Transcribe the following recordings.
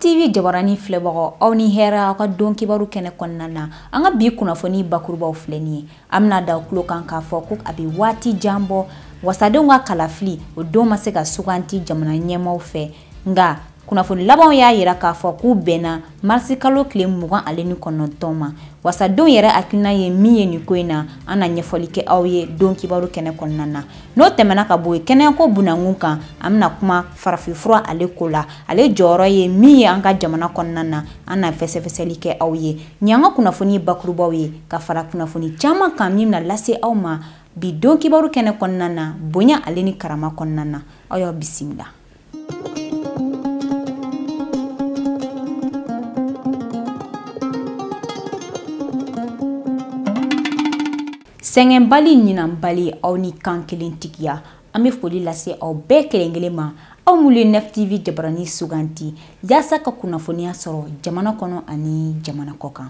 tv jabarani filɛbagaw aw ni hɛrɛ aw ka don kibaru kɛnɛ kɔnɔna na an ka bi kunnafoni bakurubaw filɛ nin ye an bena da tulo kan k'a fɔ ko a be waati jan bɔ wasadenw ka kalafili o don ma se ka suganti jamana ɲɛmaaw fɛ nka kunnafoni labanw y'a yira k'a fɔ k'u bɛnna marisi kalo tile mugan ale ni kɔnɔntɔn ma wasadenw yɛrɛ hakilina ye min ye nin ko in na an na ɲɛfɔli kɛ aw ye don kibaru kɛnɛ kɔnɔna na n'o tɛmɛna ka bɔ yen kɛnɛyako bunankun kan an bɛna kuma farafinfura ale ko la ale jɔyɔrɔ ye min ye an ka jamana kɔnɔna na an na fɛsɛfɛsɛli kɛ aw ye nin an ka kunnafoni bakurubaw ye ka fara kunnafoni caman kan min na lase aw ma bi don kibaru kɛnɛ kɔnɔna na bonya ale ni karama kɔnɔna na aw y'aw bisimila sɛgɛnbali ɲinanbali aw ni kan kelen tigiya an bɛ foli lase aw bɛɛ kelen kelen ma aw minnu ye nef tv jabarani suganti yaasa ka kunnafoniya sɔrɔ jamana kɔnɔ ani jamana kɔ kan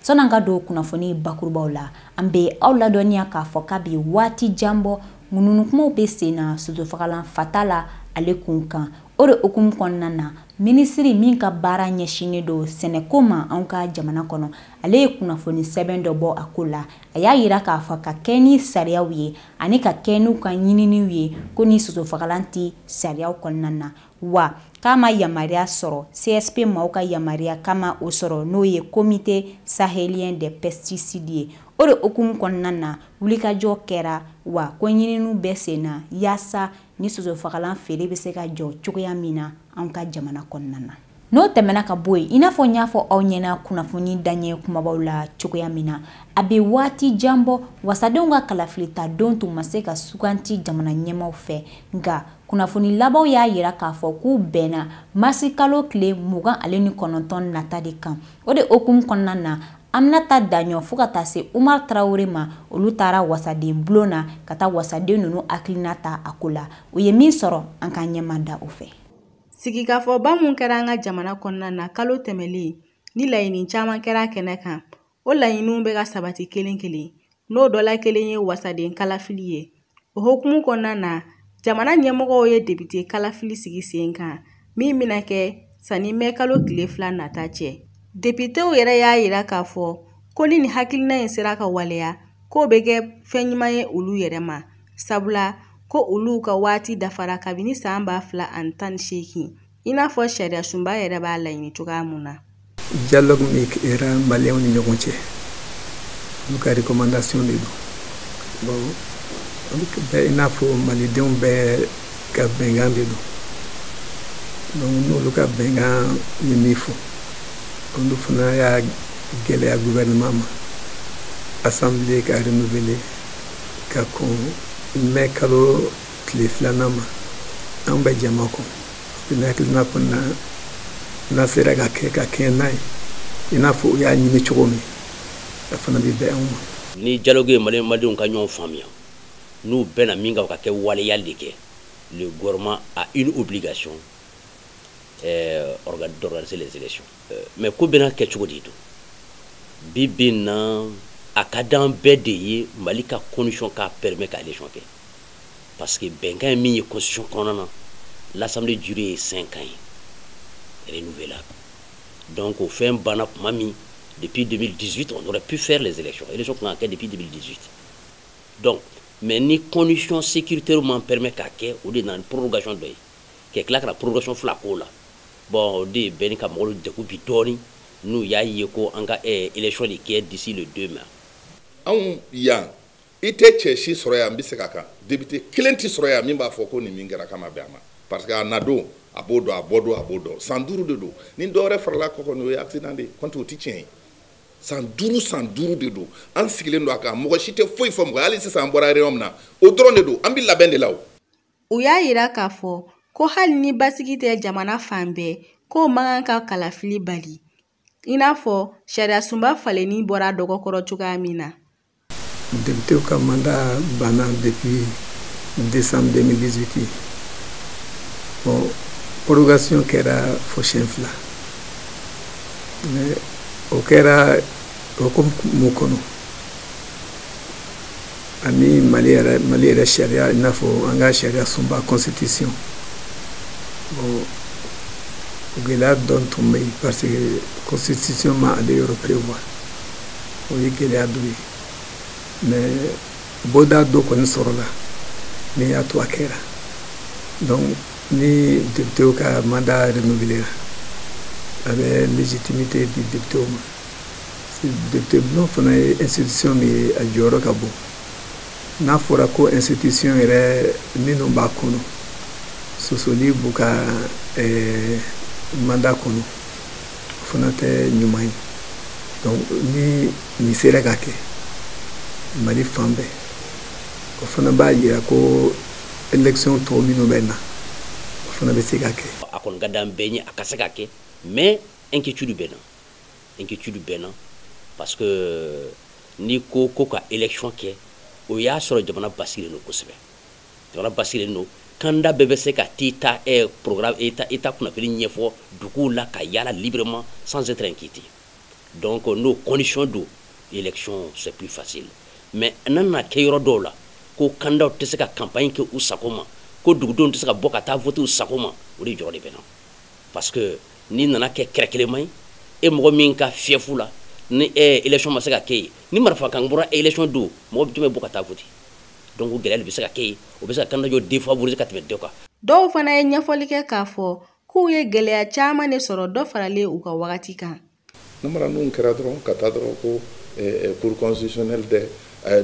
Sɔn'an ka don kunnafoni bakurubaw la an bɛ aw ladɔnniya k'a fɔ k'a bɛ waati jan bɔ ŋununukumaw bɛ sen na sosofagalan Fatala ale kun kan o de hukumu kɔnɔna na minisiri min ka baara ɲɛsinnen don sɛnɛko ma an ka jamana kɔnɔ ale ye kunnafoni sɛbɛn dɔ bɔ a ko la a y'a yira k'a fɔ ka kɛ ni sariyaw ye ani ka kɛ n'u ka ɲininiw ye ko ni sosofagalan tɛ sariyaw kɔnɔna na wa k'a ma yamaruya sɔrɔ CSP maaw ka yamaruya k'a ma o sɔrɔ n'o ye Comité Sahelien des Pesticides ye. O de hukumu kɔnɔna na wulikajɔ kɛra wa ko ɲininiw bɛ sen na yaasa ni sosofagalan feere bɛ se ka jɔ cogoya min na anw ka jamana kɔnɔna na. N'o tɛmɛna ka bɔ yen i n'a fɔ n y'a fɔ aw ɲɛna kunnafoni daɲɛ kumabaw la cogoya min na a bɛ waati jan bɔ wasadenw ka kalafilita don tun ma se ka suganti jamana ɲɛmaaw fɛ nka kunnafoni labanw y'a yira k'a fɔ k'u bɛnna marisi kalo tile mugan ale ni kɔnɔntɔn nata de kan o de hukumu kɔnɔna na Aminata Daɲɔ fo ka taa se Umar Tarawele ma olu taara wasaden bulon na ka taa wasaden ninnu hakilina ta a ko la u ye min sɔrɔ an k'an ɲɛmada o fɛ sigikafɔba mun kɛra an ka jamana kɔnɔna na kalo tɛmɛlen ni laɲini caman kɛra kɛnɛ kan o laɲiniw bɛ ka sabati kelen kelen n'o dɔ la kelen ye wasaden kalafili ye o hukumu kɔnɔna na jamana ɲɛmɔgɔw ye depite kalafili sigi sen kan min bɛna kɛ sanni mɛ kalo tile fila nata cɛ depitew yɛrɛ y'a yira k'a fɔ ko ni nin hakilina in sera ka waleya k'o bɛ kɛ fɛn ɲuman ye olu yɛrɛ ma sabula ko olu ka waati dafara kabini san ba fila ani tan ni seegin i n'a fɔ sariyasunba yɛrɛ b'a laɲini cogoya mun na dialogue min kɛra maliyɛnw ni ɲɔgɔn cɛ olu ka recommandation de don bon olu bɛɛ i n'a fɔ malidenw bɛɛ ka bɛnkan de don donc n'olu ka bɛnkan ye min fɔ olu fana y'a gɛlɛya gouvernement ma assemblée ka renouveler ka kɔn mɛ kalo tile filanan ma an bɛ jama kɔn ne hakilina kɔni na n'a sera ka kɛ ka kɛɲɛ n'a ye i n'a fɔ u y'a ɲini cogo min a fana bɛ bɛn anw ma ni dialogue ye mali malidenw ka ɲɔgɔn faamuya n'u bɛnna min kan o ka kɛ waleyali de kɛ le gouvernement a une obligation euh, d'organiser les élections mais k'o bɛna kɛ cogo de don bi bi na a ka d'an bɛɛ de ye mali ka condition k'a permet ka élection kɛ parce que bɛnkan ye min ye constitution kɔnɔna na l'assemblée durée ye cinq ans ye renouvelable donc o fɛn banna tuma min depuis 2018 on aurait pu faire les élections élection kan ka kɛ depuis 2018 donc mais ni condition sécuritaire m'an permet k'a kɛ o de nana ni prorogation dɔ ye ka tila ka na prorogation fila k'o la bon o de bɛ ɲini ka mɔgɔw degun bi dɔɔni n'u y'a ye ko an ka eh, élection de kɛ d'ici le 2 mai anw yan i tɛ cɛ si sɔrɔ yan n bɛ se ka kan député kelen tɛ sɔrɔ yan min b'a fɔ ko nin min kɛra k'a ma bɛn a ma parce que a na don a b'o dɔn a bɔ don a b'o dɔn san duuru de don ni dɔwɛrɛ farala kɔ kɔni o ye accident de ye kɔnti o tɛ tiɲɛ ye san duuru san duuru de don an sigilen don a kan mɔgɔ si tɛ foyi fɔ mɔgɔ hali sisan an bɔra réunion min na o dɔrɔn de don an bɛ labɛn de la o u y'a yira k'a fɔ ko hali ni basigi tɛ jamana fan bɛɛ k'o man kan ka kalafili bali i n'a fɔ sariyasunba falenni bɔra dɔgɔ kɔrɔ cogoya min na députéw ka mandat banna depuis décembre 2018 bon prorogation kɛra fo siyɛn fila o kɛra hukumu kɔnɔ ani mali yɛrɛ mali yɛrɛ sariya i n'a fɔ an ka sariya sunba constitution bon gɛlɛya dɔ tun bɛ yen parce que constitution ma ale yɔrɔ prévoir o ye gɛlɛya dɔ ye mais bɔda dɔ kɔni sɔrɔla min y'a to a kɛra donc ni députéw ka mandat renouvelera a bɛ légitimité di députéw ma député bulon fana ye institution min ye a jɔyɔrɔ ka bon n'a fɔra ko institution yɛrɛ minnu b'a kɔnɔ sosoli b'u ka eh, mandat kɔnɔ o fana tɛ ɲuman ye donc ni nin sera ka kɛ mali fan bɛɛ o fana b'a yira ko élection tɔw minnu bɛ na o fana bɛ se ka kɛ a kɔni ka d'an bɛɛ ye a ka se ka kɛ mais inquiétude bɛ n na inquiétude bɛ n na parce que euh, n'i ko ko ka élection kɛ o y'a sɔrɔ jamana basigilen don kosɛbɛ jamana basigilen don candidat bɛɛ bɛ se ka t'i ta eh, programme i ta i ta kunnafoni ɲɛfɔ duguw la ka yaala librement sans être inquiété donc euh, n'o condition don élection c'est plus facile mais n'a nana kɛ yɔrɔ dɔw la ko candidatw tɛ se ka campagne kɛ u sago ma ko dugudenw tɛ se ka bɔ ka taa voter u sago ma o de jɔrɔ de bɛ n na parce que n'i nana kɛ kɛrɛ kelenma ye e mɔgɔ min ka fief la ni élection ma se ka kɛ yen ni marifa kan bɔra élection don mɔgɔ jumɛn bɛ bɔ ka taa voter donc o gɛlɛya bɛ se ka kɛ yen o bɛ se ka candidat dɔ défavoriser ka tɛmɛ dɔ kan dɔw fana ye ɲɛfɔli kɛ k'a fɔ k'u ye gɛlɛya caman de sɔrɔ dɔ faralen u ka wagati kan namara ninnu kɛra dɔrɔn ka taa dɔrɔn ko cour constitutionnelle dɛ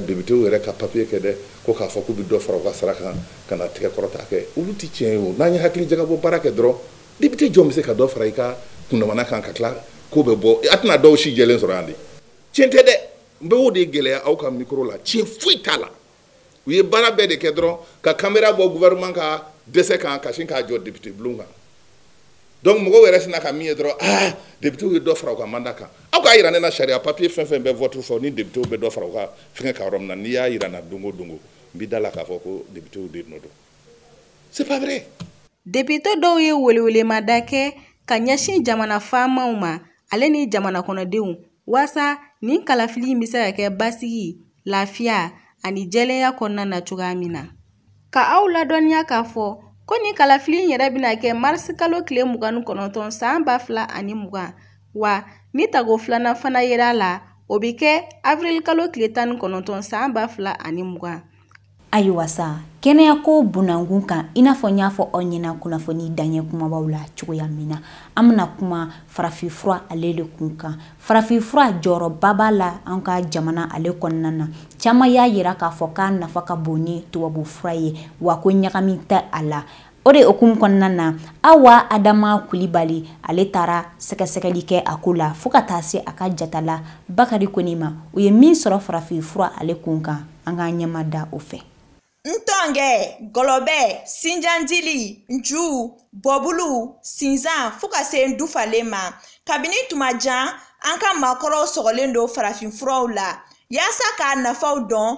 députéw yɛrɛ ka papier kɛ dɛ ko k'a fɔ k'u bɛ dɔ fara u ka sara kan ka na tɛgɛ kɔrɔta kɛ olu tɛ tiɲɛ ye o n'an ye hakili jagabɔ baara kɛ dɔrɔn député jɔn bɛ se ka dɔ fara i ka kundamana kan ka tila ko bɛ bɔ a tɛna dɔw si jɛlen sɔrɔ yan de tiɲɛ tɛ dɛ n bɛ o de gɛlɛya aw ka micro la tiɲɛ foyi t'a la u ye baara bɛɛ de kɛ dɔrɔn ka caméra bɔ gouvernement ka dɛsɛ kan ka sin k'a jɔ député bulon kan donc mɔgɔw yɛrɛ sina ka min ye dɔrɔn ah députéw ye dɔ fara u ka mandat kan aw k'a yira ne na sariya papier fɛn fɛn bɛ vote fɔ ni députéw bɛ dɔ fara u ka fɛngɛ kan yɔrɔ min na n'i y'a yira n na don o don n b'i da la k'a fɔ ko députéw de nɔ don député dɔw ye welewelemada kɛ ka ɲɛsin jamana faamaw ma ale ni jamana kɔnɔdenw waasa nin kalafili in bɛ se ka kɛ basigi lafiya ani jɛlenya kɔnɔna na cogoya min na ka aw ladɔnniya k'a fɔ ko nin kalafili in yɛrɛ bɛna kɛ marisikalo tile mugan ni kɔnɔntɔn san ba fila ani mugan wa ni tago filanan fana yera a la o bɛ kɛ awirilikalo tile tan ni kɔnɔntɔn san ba fila ani mugan ayiwa sa kɛnɛyako bunankun kan i n'a fɔ n y'a fɔ aw ɲɛna kunnafoni daɲɛ kumabaw la cogoya min na an bɛna kuma farafinfura ale de kun kan farafinfura jɔyɔrɔba b'a la an ka jamana ale kɔnɔna na caman y'a yira k'a fɔ k'a nafa ka bon ni tubabufura ye wa ko ɲagami tɛ a la o de hukumu kɔnɔna na awa adama kulibali ale taara sɛgɛsɛgɛli kɛ a ko la fɔɔ ka taa se a ka jatala bakari kɔnɛ ma u ye min sɔrɔ farafin fura ale kun kan an k'an ɲɛma da o fɛ ntɔngɛ gɔlɔbɛ sinjandili nju bɔbulu sinzan fɔɔ ka se ndufalen ma kabini tuma jan an ka maakɔrɔw sɔgɔlen don farafin furaw la yaasa k'a nafaw dɔn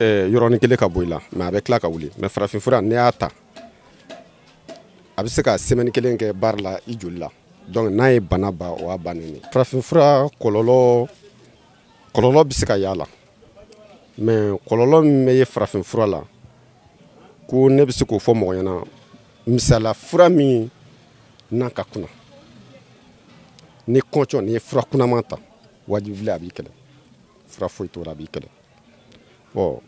eh, yɔrɔnin kelen ka bɔ i la mais a bɛ tila ka wuli mais farafinfura n'i y'a ta a bɛ se ka semaine kelen kɛ baara la i joli la donc n'a ye bana ba o y'a bannen ye farafinfura kɔlɔlɔ kɔlɔlɔ bɛ se ka y'a la mais kɔlɔlɔ min bɛ ye farafinfura la ko ne bɛ se k'o fɔ mɔgɔ ɲɛna misala fura min n'a ka kuna ni kɔncɔn n'i ye fura kunaman ta wajibi la a b'i kɛlɛ fura foyi t'o la a b'i kɛlɛ bon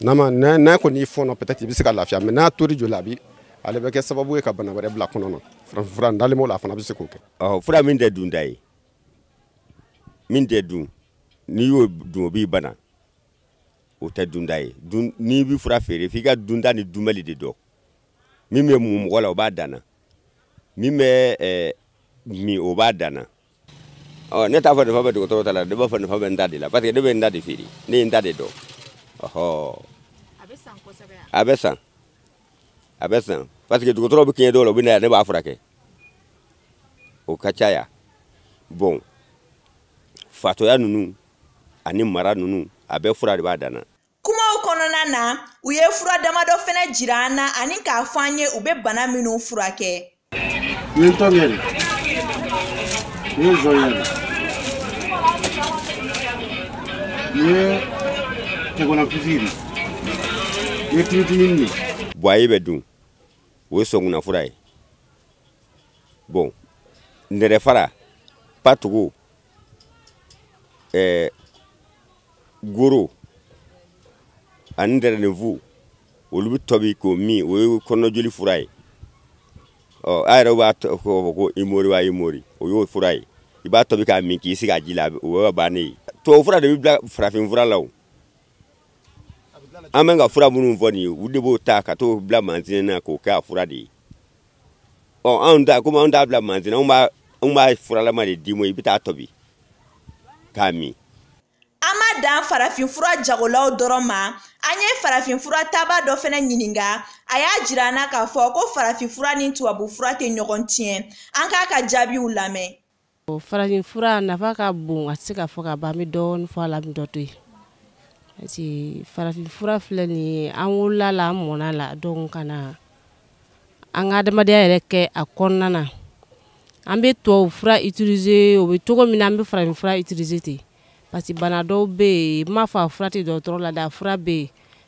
n'a ma n'a n'a kɔni y'i fɔɔnɔ peut-être i bɛ se ka lafiya mais n'a tor'i joli la a bi ale bɛ kɛ sababu ye ka bana wɛrɛ bila kɔnɔ na farafin fura dalen b'o la a fana bɛ se k'o kɛ. ɔ fura min tɛ dunta ye min tɛ dun n'i y'o dun o b'i bana o tɛ dunta ye dun n'i bɛ fura feere f'i ka dunta ni dunbali de dɔn min bɛ mun mɔgɔ la o b'a dan na min bɛ ɛɛ min o b'a dan na. ne t'a fɔ nafa bɛ dɔgɔtɔrɔ ta la ne b'a fɔ nafa bɛ n ta de la parce que ne bɛ n ta de feere ne ye n ta de dɔn ɔhɔ a bɛ san kosɛbɛ yan. a bɛ san a bɛ san parce que dɔgɔtɔrɔ bɛ kɛɲɛ dɔw la u bɛ na yan ne b'a furakɛ o ka ca yan bon fatɔya ninnu ani mara ninnu a bɛɛ fura de b'a dan na kumaw kɔnɔna na u ye fura damadɔ fɛnɛ jira an na ani k'a fɔ an ye u bɛ bana minnu furakɛ nin ye ntɔngɛ de nin ye nzɔɲɛ nin ye tɛgɔnɔpisi de nin ye timitimini de buwaye bɛ dun o ye sɔnkunanfura ye bon nɛrɛfara patugu ɛɛ goro ani dɛrɛnɛnfu olu bɛ tobi k'o min o ye kɔnɔjoli fura ye ɔ a yɛrɛ b'a tɔgɔ fɔ ko imori wa imori o y'o fura ye i b'a tobi k'a min k'i sigi a ji la o y'o bannen ye tubabu fura de bɛ dilan farafin fura la o an bɛ ka fura minnu fɔ nin ye u de b'o ta ka t'o bila mansin na k'o kɛ a fura de ye ɔ anw ta komi anw t'a bila mansin na anw b'a anw b'a furalama de d'i ma i bɛ t'a tobi k'a min. an ma dan farafinfura jagolaw dɔrɔn ma an ye farafinfura tabaa dɔ fɛnɛ ɲininka a y'a jira an na k'a fɔ ko farafinfura ni tubabufura tɛ ɲɔgɔn tiɲɛ an k'a ka jaabiw lamɛn. farafin fura nafa ka bon a tɛ se ka fɔ ka ban an bɛ dɔɔnin fɔ a la an bɛ dɔ to yen parce que farafin fura filɛ nin ye an wolola la an mɔna la donc ka na an ka adamadenya yɛrɛ kɛ a kɔnɔna na an bɛ tubabu fura utiliser o bɛ cogo min na an bɛ farafin fura utiliser ten parce que bana dɔw bɛ yen n m'a fɔ a fura tɛ dɔgɔtɔrɔ la dɛ a fura bɛ yen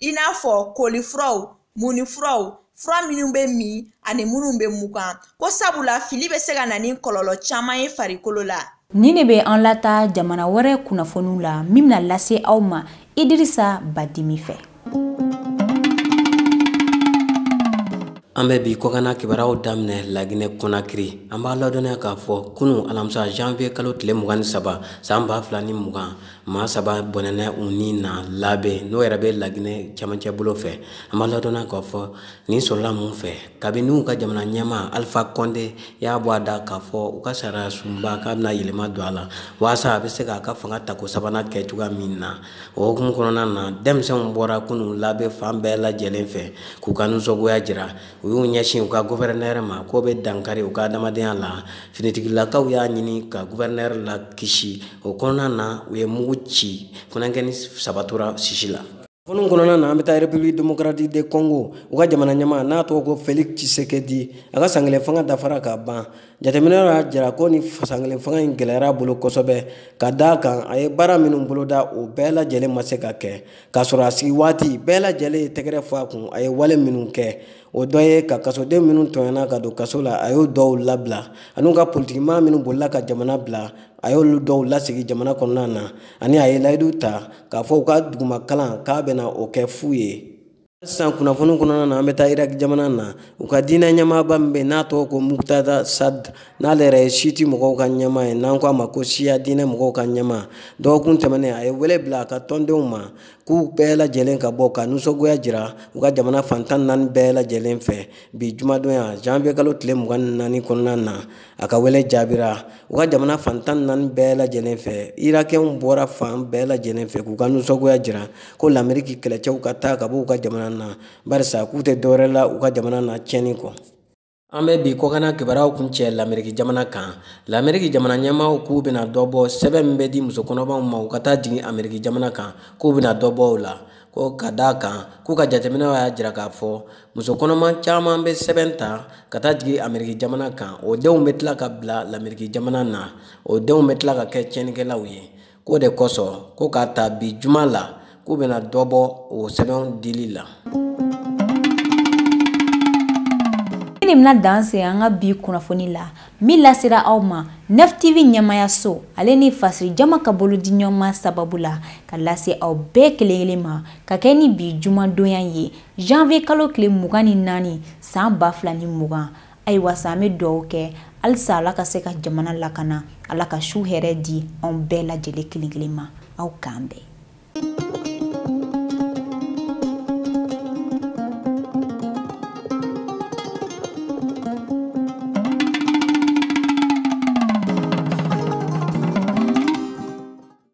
i n'a fɔ kolifuraw munifuraw fura minnu bɛ min ani minnu bɛ mugan ko sabula fili bɛ se ka na ni kɔlɔlɔ caman ye farikolo la nin de bɛ an lata jamana wɛrɛ kunnafoniw la min bɛna lase aw ma idirisa badimi fɛ an bɛ bi kɔkanna kibaruyaw daminɛ laginɛ kɔnakiri an b'a ladɔnniya k'a fɔ kunu alamisa janviye kalo tile mugan ni saba san ba fila ni mugan maa saba bɔnɛna u ni na labe n'o yɛrɛ bɛ laginɛ camancɛ bolo fɛ an b'a ladɔnniya k'a fɔ nin sɔrɔla mun fɛ kabini u ka jamana ɲɛmaa alifa kɔnde y'a bɔ a da k'a fɔ u ka sariya sunba k'a bɛna yɛlɛma don a la walasa a bɛ se k'a ka fanga tako sabanan kɛ cogoya min na o hukumu kɔnɔna na denmisɛnw bɔra kunun labe fan bɛɛ lajɛlen fɛ k'u ka nisɔngoya jira u y'u ɲɛsin u ka guvɛrɛnɛrɛ ma k'o bɛ dankari u ka adamadenya la finitigilakaw y'a ɲini ka guvɛrɛnɛrɛ lakisi o kɔnɔna na u ye mugu ci funankɛni saba tora sisi la kunnafoni kɔnɔna na an bɛ taa République démocratique de Congo u ka jamana ɲɛmaa n'a tɔgɔ ko Felix Tshisekedi a ka san kelen fanga dafara ka ban jateminɛw y'a jira ko nin san kelen fanga in gɛlɛyara a bolo kosɛbɛ ka d'a kan a ye baara minnu boloda o bɛɛ lajɛlen ma se ka kɛ k'a sɔrɔ a sigi waati bɛɛ lajɛlen ye tɛgɛrɛ fɔ a kun a ye wale minnu kɛ o dɔ ye ka kasoden minnu tɔɲɔna ka don kaso la a y'o dɔw labila an'u ka politikimaa minnu bolila ka jamana bila a y'olu dɔw lasigi jamana kɔnɔna na ani a ye layidu ta k'a fɔ u ka duguma kalan k'a bɛna o kɛ fu ye sisan kunnafoni kɔnɔna na an bɛ taa iraki jamana na u ka diinɛ ɲɛmaaba min bɛ yen n'a tɔgɔ ko mukutada sad n'ale yɛrɛ ye siti mɔgɔw ka ɲɛmaa ye n'an ko a ma ko siya diinɛ mɔgɔw ka ɲɛmaa dɔgɔkun tɛmɛnen a ye wele bila a ka tɔndenw ma k'u bɛɛ lajɛlen ka bɔ ka nisɔngoya jira u ka jamana fan tan ni naani bɛɛ lajɛlen fɛ bi jumadonya janvier kalo tile mugan ni naani kɔnɔna na a ka wele jaabira u ka jamana fan tan ni naani bɛɛ lajɛlen fɛ irakɛw bɔra fan bɛɛ lajɛlen fɛ k'u ka nisɔngoya jira ko lameriki kɛlɛcɛw ka taa ka bɔ u ka jamana na barisa k'u tɛ dɔwɛrɛ la u ka jamana na tiɲɛni kɔ an bɛ bi kɔkanna kibaruyaw kuncɛ lameriki jamana kan lameriki jamana ɲɛmaaw k'u bɛna dɔ bɔ sɛbɛn min bɛ di muso kɔnɔmaw ma u ka taa jigin ameriki jamana kan k'u bɛna dɔ bɔ o la ko ka d'a kan k'u ka jateminɛw y'a jira k'a fɔ muso kɔnɔma caman bɛ sɛbɛn ta ka taa jigin ameriki jamana kan o denw bɛ tila ka bila lameriki jamana na o denw bɛ tila ka kɛ tiɲɛnikɛlaw ye k'o de kosɔn ko k'a ta bi juma la k'u bɛna dɔ bɔ o sɛbɛnw dili la nin bɛna dan se an ka bi kunnafoni la min lasera aw ma nef tv ɲɛmayaso ale ni fasiri jama ka bolodiɲɔgɔnma sababu la ka lase aw bɛɛ kelen kelen ma ka kɛ ni bi jumadonya ye Janvier kalo tile mugan ni naani san ba fila ni mugan ayiwa sa an bɛ dugawu kɛ halisa ala ka se ka jamana lakana ala ka su hɛrɛ di anw bɛɛ lajɛlen kelen kelen ma aw k'an bɛn